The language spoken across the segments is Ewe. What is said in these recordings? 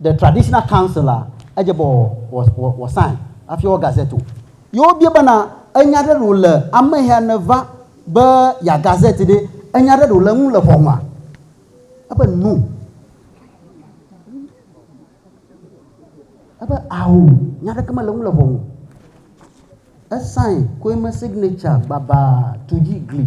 The Traditional Council a, edze be wòasãe hafi wɔ gazette o. Ye wobia bena, Enya aɖe ɖe wòle ameya nèva be yeaha gazette ɖe? Enya aɖe ɖe wòle eŋu le ʋɔnua? Ebe, No. Ebe, Ao, nya aɖeke mele eŋu le ʋɔnu. Esãe koe me signature gbabaa tu dzi gli.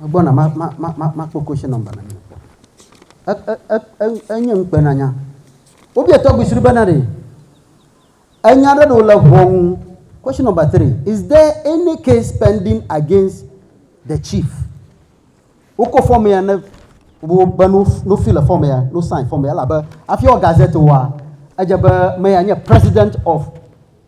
Megbɔna ma, ma, ma, ma, makpɔ question number na mi. E, e, e, e, enye ŋukpenanya. Wobia tɔgbi sri bena ɖe enya ɖe ɖo le ʋɔnu. Question number three, is there any case pending against the chief? Wokɔ fɔm ya ne wo be no no fi le fɔm ya, no sign fɔm ya labe afi wɔ gazette wa, edze be me ya nye president of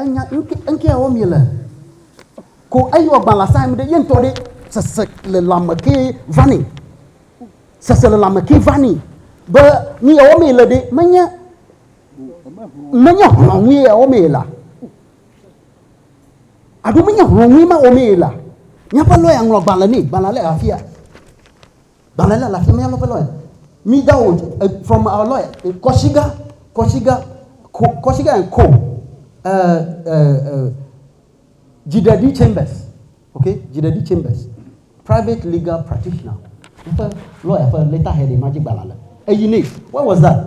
Enya ŋkɛawo mi le ko eyi wɔ gban la sa mi ɖe ye ŋtɔ ɖe sese le lame ke vani sese le lame ke vani be nu ya wɔ mi le ɖe menye menye hlɔ nu ya wɔ mi la aɖo menye hlɔ nu ma wɔ mi la nyaƒe lɔya ŋlɔ gban le ne gban la le afia Gbalẽ la le afi ma, míalɔ eƒe lɔe. Mi download it from our lawyer in Kɔshiga, Kɔshiga, Ko, Kɔshiga and Co. Uh, uh, uh, Dziɖeɖi Chambers, okay, Dziɖeɖi Chambers, private legal practitioner. Eƒe lɔya ƒe letterhead ma dzi gbalẽa le. Eyi nɛ. What was that?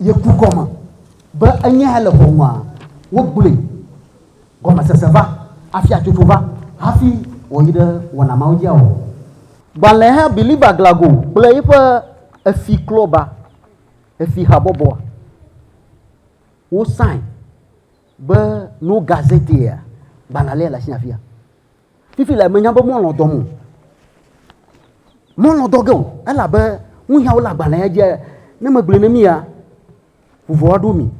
Ye ku gɔme be enye hele ʋɔnua, wogblɔe gɔmesese va, afia tsotso va hafi wòyi ɖe wɔna mawo dzi awɔ. Gbalẽha Believer Glago kple yiƒe Efi Klɔba, Efi Habɔbɔa, wo sign be no gazetteer gbalẽa le ɖe asi afia. Fifi le menya be mɔlɔ dɔm o. Mɔlɔ dɔ ge o. Elabe nuyawo le agbalẽa dzia, ne megblɔe ne mia, vuvɔ aɖo mi.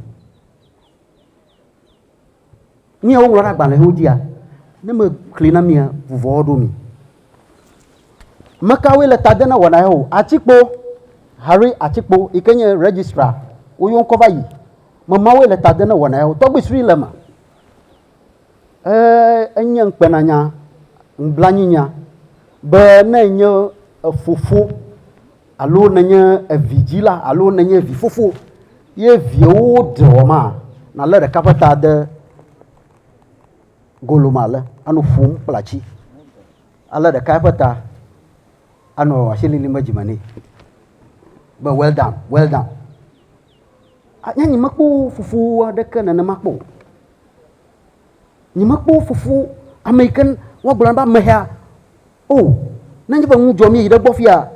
Nuyawo ŋlɔ ɖe agbalẽwo dzia, ne mexlẽ na mia, vuvɔ aɖo mi. Mekawoe le ta de na wɔna ya o. Atikpo, Harry Atikpo yi ke nye registrar, woyɔ ŋkɔ va yi. Memawoe le ta de na wɔna ya o. Tɔgbi srui le eme. Enye ŋukpenanya, nublanuinya be ne ènye efofo alo nènye evidzila alo nènye vifofo ye viawo ɖe wɔ ma, nàlé ɖeka ƒe ta de golome ale, anɔ ƒom kple atsi. Alé ɖeka ƒe ta, anɔ asi lilim ɖe dzime nɛ be well done, well done. Nye nyemekpɔ fofo aɖeke nenema kpɔ o. Nyemekpɔ wo fofo ame yi ke woagblɔ na be amehea o. Nenye be nu dzɔ mí yi ɖe gbɔ fia,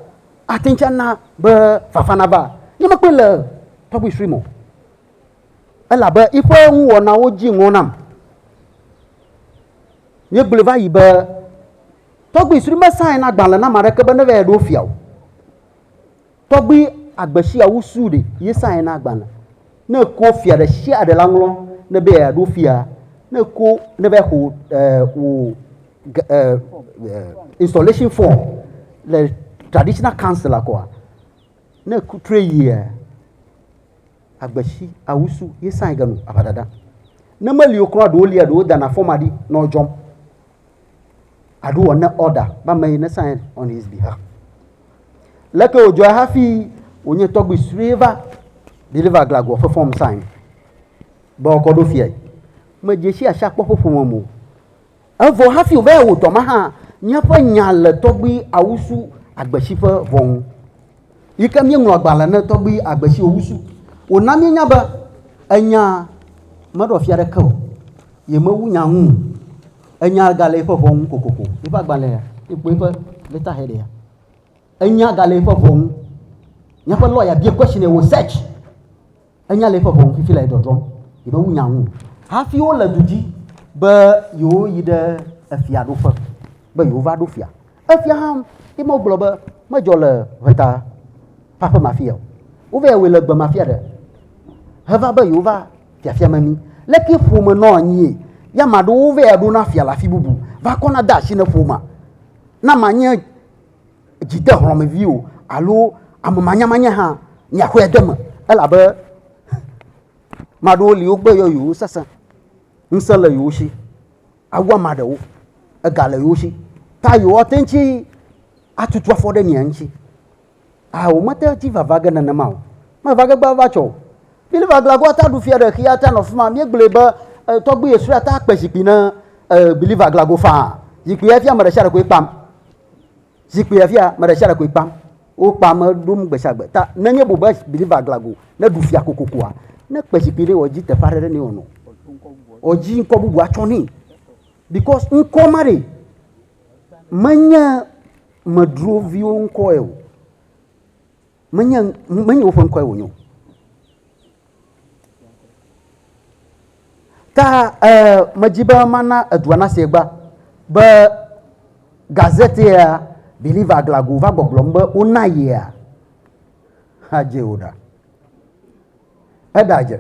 ate ŋu tsɛ na be fafa nava. Nyemekpɔe le public stream o. Elabe eƒe nuwɔnawo dzi ŋɔ nam. Míegblɔe va yi be tɔgbui sue mesaɛna agbalẽ na ame aɖeke be neva yi ɖo fia o. Tɔgbi agbe sia wu su ɖe ye sa ena agbalẽ. Ne eko fia ɖe sia ɖe la ŋlɔ ne be ya ɖo fia, ne eko ne be xo e wo e e installation form le traditional council la kɔa, ne eko tre yia agbe si awu su ye sa ege nu aʋa dada. Ne me li wo kura ɖo lia ɖo dana form aɖi nɔ dzɔm. aɖo ɔne ɔda be ame yi ne sign on his behalf leke wòdzɔe hafi wònye tɔgbi sue va deliver glagoɔ ƒe fɔm sign be ɔkɔ ɖo fiae medze si asi akpɔ ƒe ƒome mo evɔ hafi wòva yɛ wòdɔ ma hã míaƒe nya le tɔgbi awusu agbesi ƒe vɔ ŋu yi ke míeŋlɔ agbalẽ ne tɔgbi agbe si wòwusu. Wòna míenya be enya meɖɔ fia aɖeke o, yemewu nya ŋu o. Enya gale eƒe ʋɔ ŋu kokoko. Eƒe agbalẽa, ekpɔ eƒe letterheadia, enya gale eƒe ʋɔ ŋu. Míaƒe lɔya biae question, wòsearch. Enya le eƒe ʋɔnu fifi le dɔdrɔm yi ɖe ŋunya ŋu hafi wole du dzi be yewoyi ɖe efiaɖuƒe be yewova ɖo fia. Efia hã ye me wogblɔ be medzɔ le ʋeta ƒe aƒe ma fia o. Wova wɔe le gbe ma fia ɖe heva be yewova fiafia me mi. Leke ƒome nɔ anyie? Ya ame aɖewo va ɖona fia le afi bubu va kɔna de asi ne ƒomea. Na manye dzi de hlɔ̃mevi o alo ame manyamanya hã miaxɔe de eme elabe ame aɖewo li wogbe yɔ yewo sesẽ, ŋusẽ le yewo si awu ame aɖewo, ega le yewo si ta yewoate ŋu tsi atutu afɔ ɖe mia ŋuti. A womete ŋu tsi va va ge nenema o. Meva ge gbava tsɔ o. Biliva glagɔa ta ɖu fia ɖe xexea ta nɔ afi ma. Míegblɔe be tɔgbui esrɔ̃a ta kpe zikpui na biliva glago faa. Zikpuia fia ame ɖe sia ɖe koe kpam. Zikpui afia me ɖe sia ɖe koe kpam. Wokpa ame ɖom gbe sia gbe. Ta nenye bu be believer aglago ne ɖu fia kokokoa, ne kpe zikpui ɖe wɔ dzi teƒe aɖe ɖe ne wɔnɔ. Wɔ dzi ŋkɔ bubu atsɔ nɛ. Because ŋkɔ ma ɖe menye medroviwo ŋkɔ o. Menye, menye woƒe ŋkɔe wònye o. Ta eh, medzi be mana edua nasi egba be gazete ya Believer Aglago va gbɔgblɔm be wona yea. Hadze wò ɖa. Eɖadze.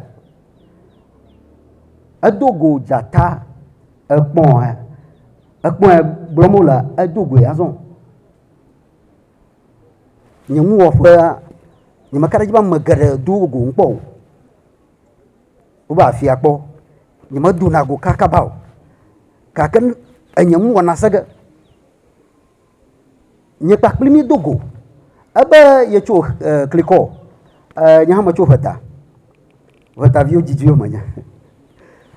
Edo go dzata ekpɔa ekpɔe gblɔm wole edo goe azɔ. Nye nuwɔƒea, nyemeka ɖe edzi be ame geɖe do wo go kpɔ o. Wova afia kpɔ. Nyemedona go kakaba o gake enye nu wɔna se ge. Nye kpakple mi do go ebe yetso e klikɔ e nye hã metso ŋeta. Ŋetaviwo didiwo menye.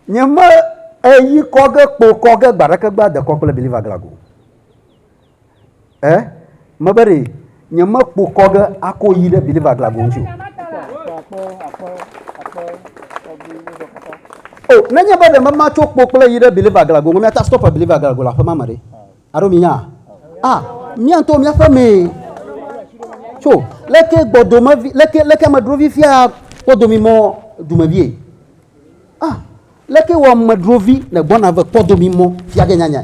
Nyeme eyi kɔ ge kpo kɔ ge gbe aɖeke be adekɔ kple Believer Glagg o. Eh? Mebe ɖe nyemekpo kɔ ge ako yi ɖe Believer Glagbo ŋuti o. O, oh, nenye be ɖe mema tso kpo kple yi ɖe Believer Glagbo ŋu, miata stop Believer Glagbo le aƒe ma me ɖe. Alo mi nya? Ah, mia ŋutɔ miaƒe mee. Tso, leke gbɔdome vi, leke, leke medro vi fia kpɔdo mi mɔ dume vie. Ah, leke wɔ medro vi ne gbɔna ve kpɔdo mi mɔ fia ge nyanya.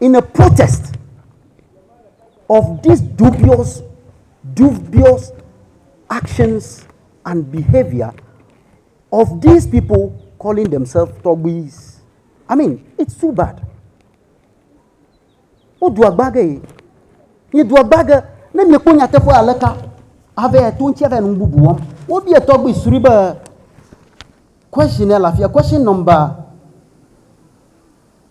in a protest of this dubious dubious actions and behaviour of these people calling themselves tɔgbuis i mean it's too bad wodu agba ge yi miedu agba ge ne miekpɔ nyateƒe aleka ave to ŋuti ave nu bubu wɔm wobia tɔgbui sri be question ya le afia question number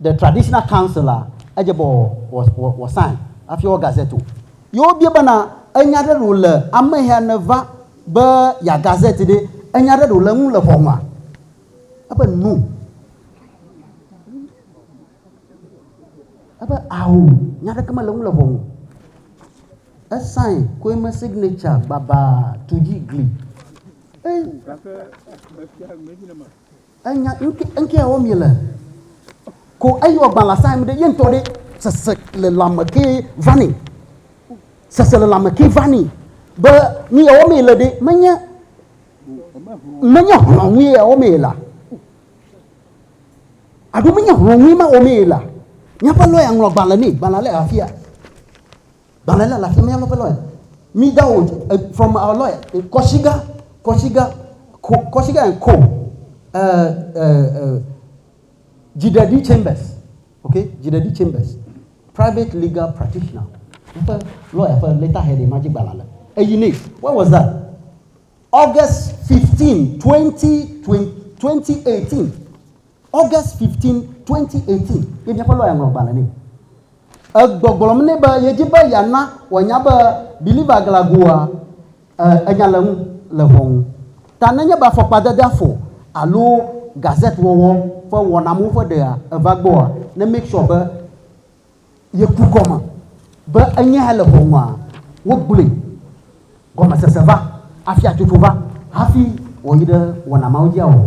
The Traditional Council a, edze be wòasãe hafi wɔ gazette o. Ye wobia bena, Enya aɖe ɖe wòle ameya nèva be yeaha gazette ɖe? Enya aɖe ɖe wòle eŋu le ʋɔnua? Ebe, No. Ebe, Ao, nya aɖeke mele eŋu le ʋɔnu. Esãe koe me signature gbabaa tu dzi gli. Enya ŋkɛawo mi le ko eyi wɔ gban la sa mi ɖe ye ŋtɔ ɖe sese le lame ke vani sese le lame ke vani be mi yawo mi le ɖe menye menye hlɔn ŋui yawo mi la aɖo menye hlɔn ŋui ma wo mi la nyapa lɔya ŋlɔ gban le mi gban la le afia Gbalẽ la le afi mia lɔƒe lɔe. Mi da wo from our lɔe. Kɔsiga, kɔsiga, ko, kɔsiga and co. Uh, uh, uh, Jidedi Chambers. Okay, Jidedi Chambers. Private legal practitioner. Eƒe lɔya ƒe letterhead ma dzi gbalẽ le. Eyi ne, what was that? August 15, 20, 20, 2018. August 15, 2018. Ye miaƒe lɔya ŋlɔ gbalẽ ne. Egbɔgblɔm nɛ be yedi be yeana wòanya be Believer Glagooa enya le ŋu le ʋɔnu ta nenye be afɔkpadedea fɔ alo gazette wɔwɔ ƒe wɔnamewo ƒe ɖea eva gbɔa, ne make sure be yeku gɔme be enye hã le ʋɔnua. Wogblɔe gɔmesese va, afiatsotso va hafi wòyi ɖe wɔna mawo dzia wɔwɔ.